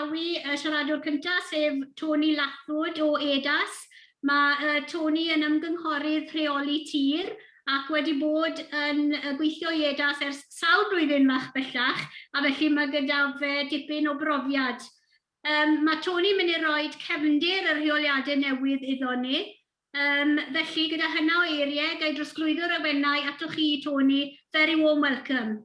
Croesawu y siaradwr cyntaf, sef Tony Lathwood o EDAS. Mae uh, Tony yn ymgynghorydd rheoli tir ac wedi bod yn gweithio i EDAS ers sawl blwyddyn fach bellach, a felly mae gyda fe dipyn o brofiad. Um, mae Tony mynd i roi cefndir y rheoliadau newydd iddo ni, Um, felly, gyda hynna o eiriau, gael drosglwyddo'r awennau atoch chi, Tony. Very warm welcome.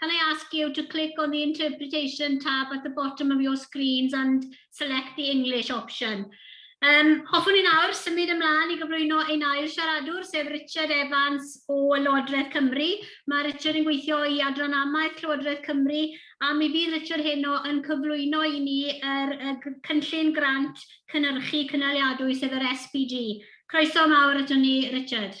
Can I ask you to click on the interpretation tab at the bottom of your screens and select the English option. Um, hoffwn i nawr symud ymlaen i gyflwyno ein ail siaradwr, sef Richard Evans o Lywodraeth Cymru. Mae Richard yn gweithio i Adran Amaeth Llywodraeth Cymru a mi fydd Richard heno yn cyflwyno i ni yr, y cynllun grant cynnyrchu cynaliadwy sef yr SPG. Croeso mawr ato ni, Richard.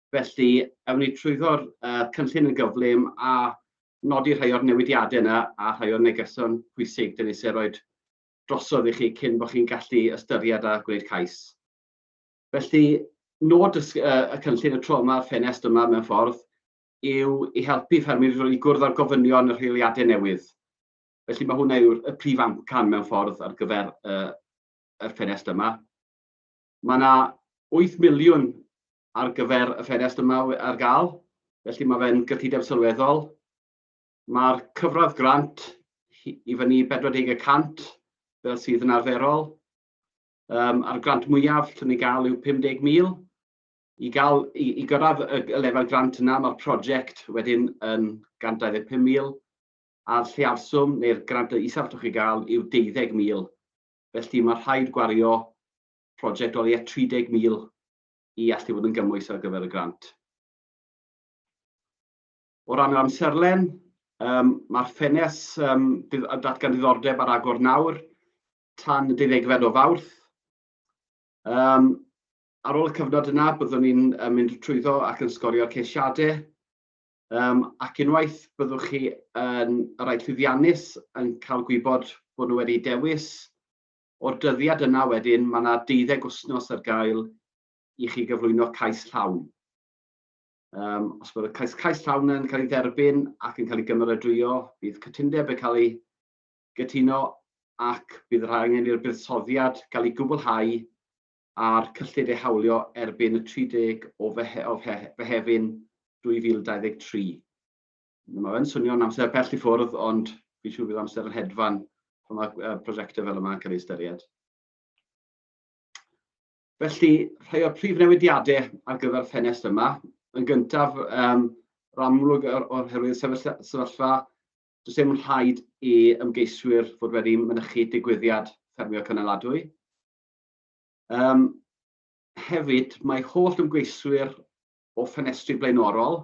Felly, awn ni trwyddo'r uh, cynllun yn gyflym a nodi rhai o'r newidiadau yna a rhai o'r negeson pwysig dyn ni eisiau rhoi drosodd i chi cyn bod chi'n gallu ystyried a gwneud cais. Felly, nod y, uh, y cynllun y tro yma, ffenest yma mewn ffordd, yw i helpu ffermydd i gwrdd â'r gofynion y rheoliadau newydd. Felly mae hwnna yw'r prif amcan mewn ffordd ar gyfer uh, y ffenest yma. Mae yna 8 miliwn ar gyfer y ffenest yma ar gael, felly mae fe'n gyllideb sylweddol. Mae'r cyfradd grant i fyny 40 y cant fel sydd yn arferol. Um, a'r grant mwyaf lle ni'n gael yw 50,000. I, gael, i, i gyrraedd y lefel grant yna, mae'r prosiect wedyn yn 125,000 a'r lleafswm neu'r grant y isaf allwch chi gael yw 12,000. Felly mae rhaid gwario prosiect o leia 30,000 i allu bod yn gymwys ar gyfer y grant. O ran yr amserlen, um, mae'r ffenes um, datgan diddordeb ar agor nawr tan y deuddegfed o fawrth. Um, ar ôl y cyfnod yna, byddwn ni'n um, mynd trwyddo ac yn sgorio ceisiadau. Um, ac unwaith byddwch chi yn um, rhaid llwyddiannus yn cael gwybod bod nhw wedi dewis O'r dyddiad yna wedyn, mae 'na deuddeg wythnos ar gael i chi gyflwyno cais llawn. Um, os mae'r cais, cais llawn yn cael ei dderbyn ac yn cael ei gymeradwyo, bydd cytundeb yn cael ei gytuno ac bydd rhaid angen i'r buddsoddiad gael ei gwblhau a'r cyllid ei hawlio erbyn y 30 o fehe, o fehe, Fehefin 2023. Mae fe'n swnio'n amser pell i ffwrdd, ond fi'n siŵr bydd amser yn hedfan pan mae uh, prosiectau fel yma'n cael ei ystyried. Felly, rhai o'r prif newidiadau ar gyfer ffenest yma. Yn gyntaf, um, ramlwg o'r, or herwydd sefyllfa, does dim rhaid i ymgeiswyr fod wedi mynychu digwyddiad ffermio cynaladwy. Um, hefyd, mae holl ymgeiswyr o ffenestri blaenorol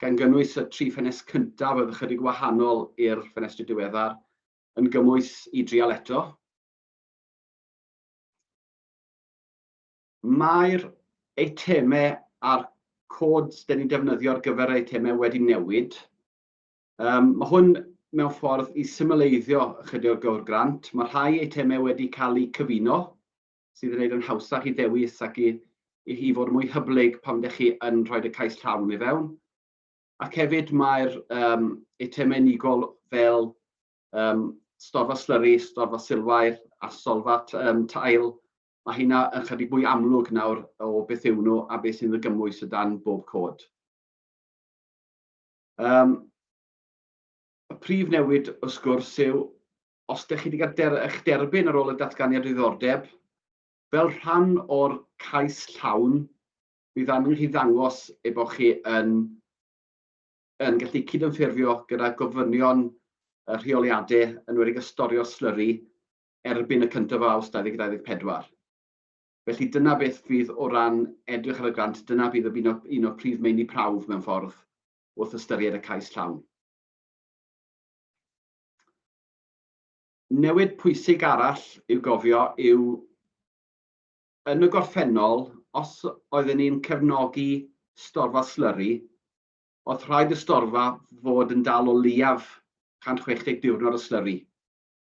gan gynnwys y tri ffenest cyntaf oedd ychydig wahanol i'r ffenestri diweddar, yn gymwys i drial eto. Mae'r eitemau a'r codes dyn ni'n defnyddio ar gyfer yr eitemau wedi newid. Um, mae hwn mewn ffordd i symleiddio ychydig o'r gywr grant. Mae rhai eitemau wedi cael eu cyfuno sydd yn neud yn hawsach i ddewis ac i i hi fod yn mwy hyblyg pan ydych chi yn rhoi y cais llawn i fewn. Ac hefyd mae'r um, eitemau unigol fel um, storfa slyri, storfa silwair a solfa um, tail, mae hynna yn chydig mwy amlwg nawr o beth yw nhw a beth sy'n ddygymwys o dan bob cod. Um, y prif newid wrth gwrs yw os ydych chi wedi cael der, eich derbyn ar ôl y datganiad diddordeb, fel rhan o'r cais llawn, bydd angen chi ddangos ei bod chi yn, yn gallu cydymffurfio gyda gofynion y rheoliadau yn wedi gystorio slyri erbyn y 1 o Awst 2024. Felly dyna beth fydd o ran edrych ar y grant, dyna bydd un o, un o prif meini prawf mewn ffordd wrth ystyried y cais llawn. Newid pwysig arall i'w gofio yw, yn y gorffennol, os oedden ni'n cefnogi storfa slyri, o'dd rhaid y storfa fod yn dal o leiaf 160 diwrnod o slyri,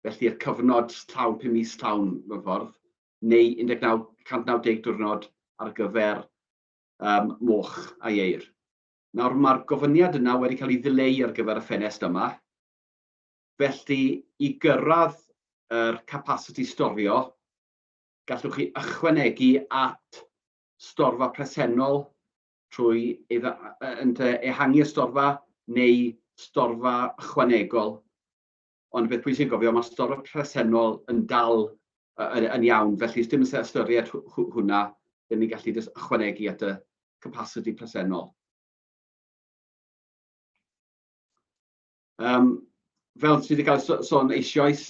felly'r cyfnod llawn, pum mis llawn mewn ffordd, neu 19 190 diwrnod ar gyfer moch a ieir. Nawr, mae'r gofyniad yna wedi cael ei ddileu ar gyfer y ffenest yma, felly i gyrraedd yr capasiti storio, gallwch chi ychwanegu at storfa presennol trwy ehangu y storfa neu storfa ychwanegol ond y peth pwysig yw gofio, mae storm y presennol yn dal yn, yn iawn, felly os dim yn ystyried hwnna, dyn ni'n gallu just ychwanegu at y capacity presennol. Um, fel sydd wedi cael sôn eisioes,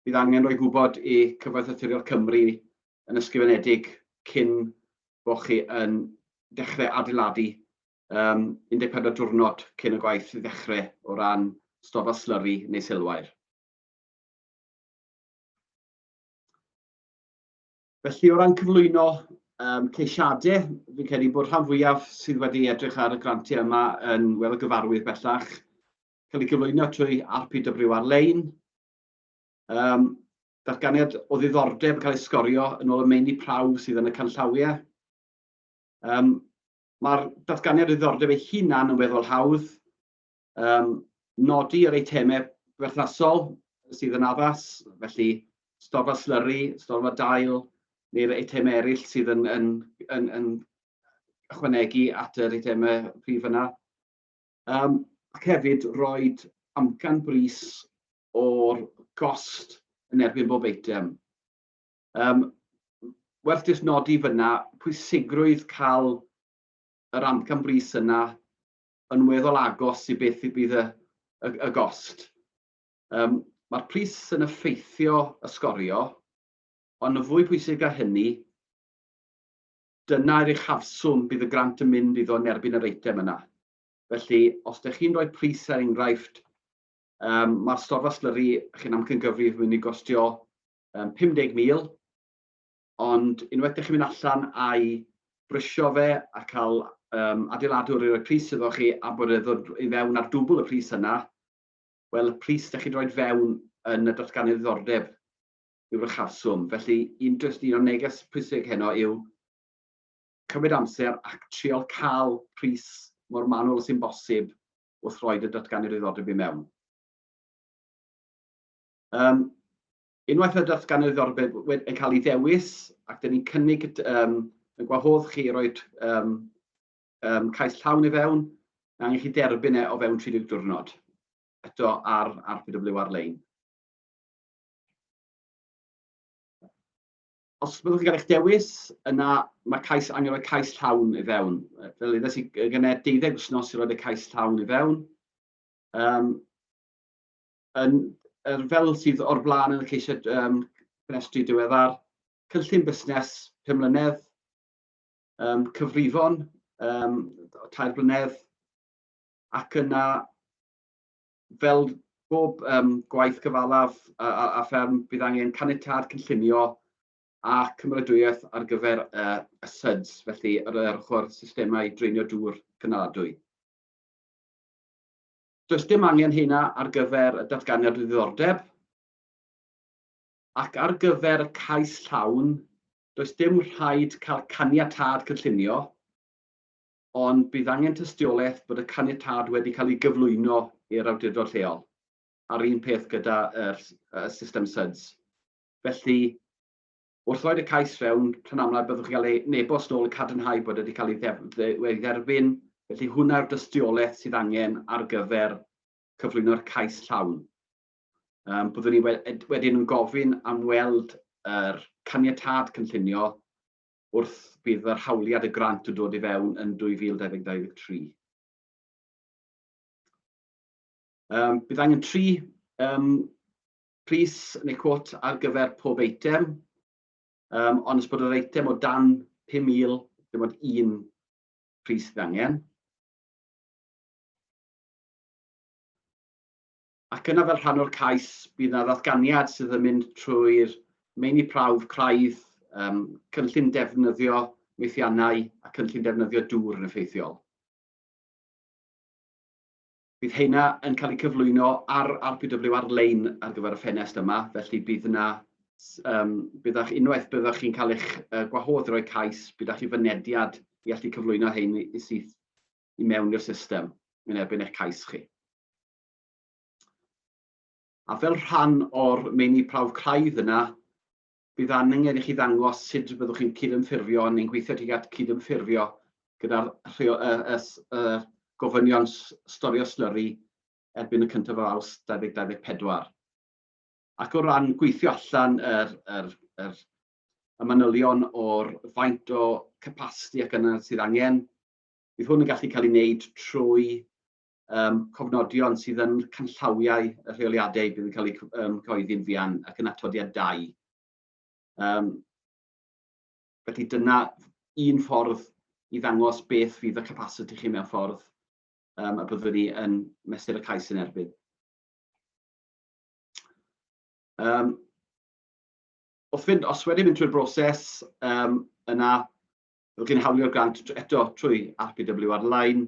bydd angen rhoi gwybod i Cyfoeth Aturiol Cymru yn ysgrifenedig cyn bod chi yn dechrau adeiladu yym 14 diwrnod cyn y gwaith i ddechrau o ran stoffa slyri neu silwair. Felly o ran cyflwyno um, ceisiadau, fi'n credu bod rhan fwyaf sydd wedi edrych ar y grantiau yma yn wel y gyfarwydd bellach, cael ei gyflwyno trwy RPW ar-lein, um, datganiad o ddiddordeb yn cael ei sgorio yn ôl y meini prawf sydd yn y canllawiau. Um, Mae'r datganiad o ddiddordeb ei hunan yn weddol hawdd. Um, nodi yr eitemau berthnasol sydd yn addas, felly storfa slyri, storfa dail, neu'r eitemau eraill sydd yn, yn, yn, yn ychwanegu at yr eitemau prif yna. Um, ac hefyd roi amcan bris o'r gost yn erbyn bob eitem. Yym, werth jyst nodi fyna pwysigrwydd cael yr amcan brys yna yn weddol agos i beth fydd y, y, y gost. Um, Mae'r pris yn effeithio y sgorio, ond yn fwy pwysig a hynny, dyna i'r uchafswm bydd y grant yn mynd iddo yn erbyn yr eitem yna. Felly, os ydych chi'n rhoi pris ar er enghraifft, um, mae'r storfa slyri chi'n amcangyfrif yn mynd i gostio yym 50,000, ond unwaith dych chi'n mynd allan a'i brisio fe a cael um, adeiladwr i roi pris iddo chi a bod e ddod i fewn ar dwbl y pris yna, wel y pris dych chi'n rhoi fewn yn y datganiad ddiddordeb yw'r uchafswm. Felly un, just un o'r neges pwysig heno yw cymryd amser ac trial cael pris mor manwl sy'n bosib wrth roi dy datganiad ddiddordeb i mewn. Yym, unwaith y datganwyd orbed wed- yn cael ei ddewis, ac dyn ni'n cynnig y d- yym, y gwahodd chi i roi'r yym, yym, cais llawn i fewn, mae angen i chi derbyn e o fewn 30 diwrnod, eto ar RPW ar-lein. Os byddwch chi'n cael eich dewis, yna mae cais, angen rhoi cais llawn i fewn. Yy, Fel ddeudais i, g- gynnau 12 wythnos i roi'r cais llawn i fewn. Yym, Yn, er, fel sydd o'r blaen yn y ceisiad um, cynestri diweddar, cynllun busnes 5 mlynedd, um, cyfrifon um, 3 blynedd, ac yna fel bob um, gwaith cyfalaf a, a, a fferm bydd angen caniatad cynllunio a cymeradwyaeth ar gyfer uh, y SUDS, felly yr, yr ochr systemau dreinio dŵr cynaladwy. Does dim angen heina ar gyfer y datganiad o ddiddordeb, ac ar gyfer y cais llawn, does dim rhaid cael caniatâd cynllunio, ond bydd angen tystiolaeth bod y caniatâd wedi cael ei gyflwyno i'r awdurdod lleol, a'r un peth gyda'r system SUDS. Felly, Wrth roi'r y cais fewn, p'run amlaf byddwch chi'n cael ei nebost nôl yn cadarnhau bod wedi cael ei dderbyn, felly hwnna yw'r dystiolaeth sydd angen ar gyfer cyflwyno'r cais llawn. Um, byddwn ni wedyn yn gofyn am weld yr er caniatad cynllunio wrth bydd yr hawliad y grant yn dod i fewn yn 2023. Um, bydd angen tri um, pris neu cwot ar gyfer pob eitem, um, ond os bod yr eitem o dan 5,000, dim ond un pris sydd angen. Ac yna fel rhan o'r cais, bydd yna ddatganiad sydd yn mynd trwy'r meini prawf craidd, um, cynllun defnyddio meithiannau a cynllun defnyddio dŵr yn effeithiol. Bydd heina yn cael eu cyflwyno ar RPW ar-lein ar gyfer y ffenest yma, felly bydd yna, um, bydd a'ch unwaith byddwch chi'n cael eich uh, gwahodd i roi cais, bydd a'ch i fynediad i allu cyflwyno hyn i syth i mewn i'r system yn erbyn eich cais chi. A fel rhan o'r meini prawf craidd yna, Bydd angen i chi ddangos sut y byddwch chi'n cydymffurfio neu'n gweithio tuag at gydymffurfio gyda'r gofynion storio slyri erbyn y cyntaf o Awst 2024. Ac o ran gweithio allan yr manylion o'r faint o capasiti ac angen sydd angen, bydd hwn yn gallu cael ei wneud trwy um, cofnodion sydd yn canllawiau y rheoliadau bydd yn cael eu um, cyhoeddi'n fuan ac yn atodiad 2. Um, felly dyna un ffordd i ddangos beth fydd y capacity chi mewn ffordd um, a byddwn ni yn mesur y cais yn erbyn. Um, wrth fynd, os wedi mynd trwy'r broses, um, yna rwy'n chi'n hawlio'r grant eto trwy RPW ar-lein,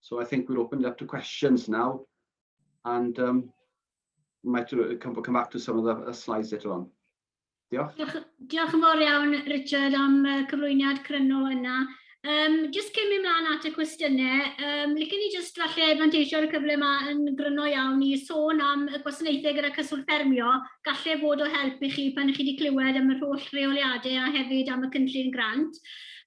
So I think we'll open it up to questions now and um, we might uh, come, come back to some of the uh, slides later on. Diolch. Diolch, diolch yn fawr iawn, Richard, am uh, cyflwyniad cryno yna. Um, just cyn mynd mlaen at y cwestiynau, um, licen ni just falle advantageo'r cyfle yma yn gryno iawn i sôn am y gwasanaethau gyda cyswllt ffermio, gallai fod o help i chi pan ych chi wedi clywed am yr holl reoliadau a hefyd am y cynllun grant.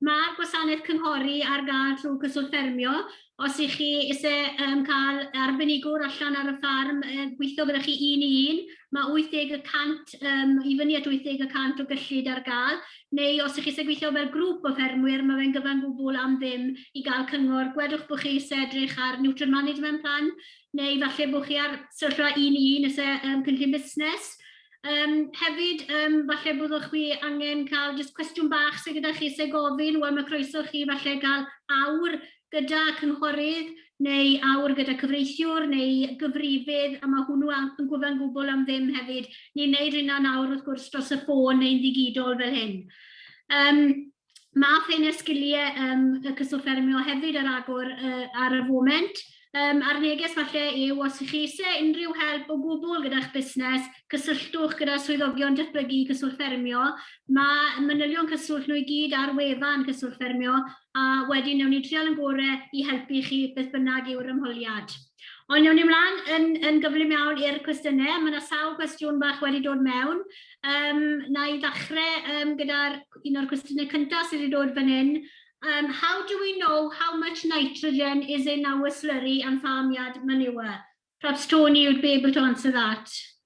Mae'r gwasanaeth cynghori ar gael trwy Cyswllt Ffermio. Os ych chi eisiau cael arbenigwr allan ar y ffarm gweithio gyda chi un i un, mae 80 y cant i fyny at 80 y cant o gyllid ar gael, neu os ych chi eisiau gweithio fel grŵp o ffermwyr, mae fe'n gyfan gwbl am ddim i gael cyngor. Gwedwch bod chi eisiau edrych ar Nutrient Management Plan, neu falle bod chi ar sefyllfa un i un eisiau cynllun busnes. Um, hefyd, um, falle byddwch chi angen cael just cwestiwn bach sydd gyda chi sy'n gofyn, wel mae croeso chi falle gael awr gyda cynghorydd neu awr gyda cyfreithiwr neu gyfrifydd, a mae hwnnw yn gwybod gwbl am ddim hefyd. Ni'n neud hynna'n awr wrth gwrs dros y ffôn neu'n ddigidol fel hyn. Um, Mae Ffeinau'r Sgiliau um, y Cyswllt Ffermio hefyd ar agor uh, ar y foment. Um, a'r neges falle yw os ych chi eisiau unrhyw help o gwbl gyda'ch busnes, cysylltwch gyda swyddogion datblygu cyswllt ffermio. Mae manylion cyswllt nhw i gyd ar wefan cyswllt ffermio a wedyn newn ni trial yn gorau i helpu chi beth bynnag yw'r ymholiad. Ond awn ni mlaen yn, yn gyflym iawn i'r cwestiynau. Mae yna sawl cwestiwn bach wedi dod mewn. Um, na i ddechrau um, gyda'r un o'r cwestiynau cyntaf sydd wedi dod fan hyn. Um, how do we know how much nitrogen is in our slurry and farmyard manure? Perhaps Tony would be able to answer that.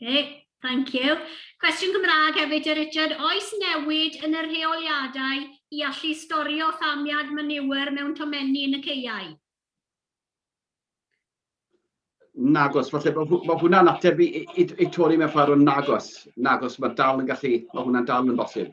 Okay, thank you. Cwestiwn Gymraeg hefyd, e Richard. Oes newid yn y rheoliadau i allu storio ffamiad manure mewn tomenni yn y ceiau? Nagos, falle bod ma hwnna'n ateb i, i, i Tony mewn ffordd o nagos. Nagos, mae dal yn gallu, mae hwnna'n dal yn bosib.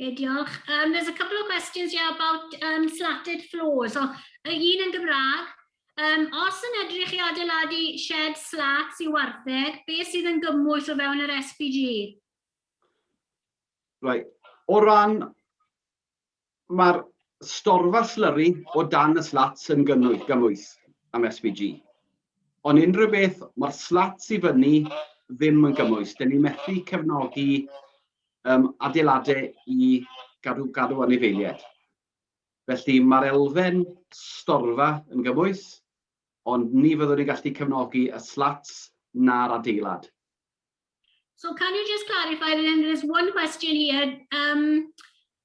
Okay, diolch. Um, there's a couple of questions here about um, slatted floors. So, y un yn Gymraeg, um, os yn edrych i adeiladu shed slats i wartheg, be sydd yn gymwys o fewn yr SPG? Right. O ran Mae'r storfa slyri o dan y slats yn gymwys am SVG. Ond unrhyw beth mae'r slats i fyny ddim yn gymwys. Dyn ni methu cefnogi um, adeiladau i gadw, gadw anifeiliaid. Felly mae'r elfen storfa yn gymwys, ond ni fyddwn ni'n gallu cefnogi y slats na'r adeilad. So can you just clarify, then there's one question here. Um,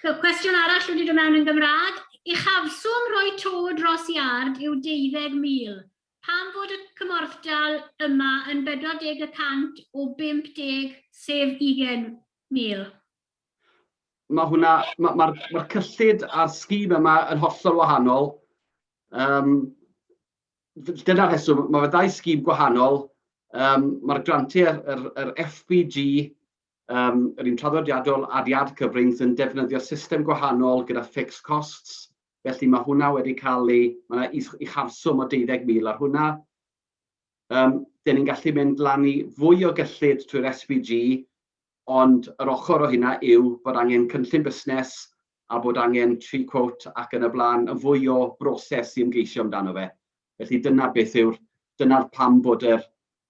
So, cwestiwn arall wedi dod mewn yn Gymraeg. Uchafswm rhoi to dros iard yw 20,000. Pam fod y cymorthdal yma yn 40 y cant o 50 sef 20,000? Mae hwnna, mae'r ma, ma, ma cyllid a'r sgîm yma yn hollol wahanol. Um, Dyna'r rheswm, mae fe ddau sgîm gwahanol. Um, Mae'r grantiau, yr, yr FBG, Yr un traddodiadol, Adead Cyfrings yn defnyddio system gwahanol gyda fixed costs, felly mae hwnna wedi cael ei... mae 'na uchafswm o 20,000 ar hwnna. Dan ni'n gallu mynd lan i fwy o gyllid trwy'r SPG, ond yr ochr o hynna yw bod angen cynllun busnes a bod angen tri quote ac yn y blaen, yn fwy o broses i ymgeisio amdano fe. Felly dyna beth yw'r... dyna pam bod yr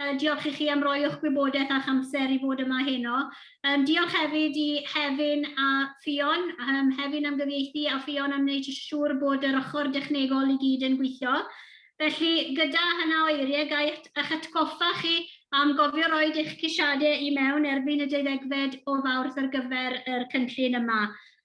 Yy, diolch i chi am roi o'ch gwybodaeth a'ch amser i fod yma heno. Yym, diolch hefyd i Hefin a Ffion, yym, Hefin am gyfieithu a Ffion am wneud siŵr bod yr ochr dechnegol i gyd yn gweithio. Felly, gyda hynna o eiriau, ga i eich atgoffa chi am gofio roid eich ceisiadau i mewn erbyn y deuddegfed o Fawrth ar gyfer yr cynllun yma.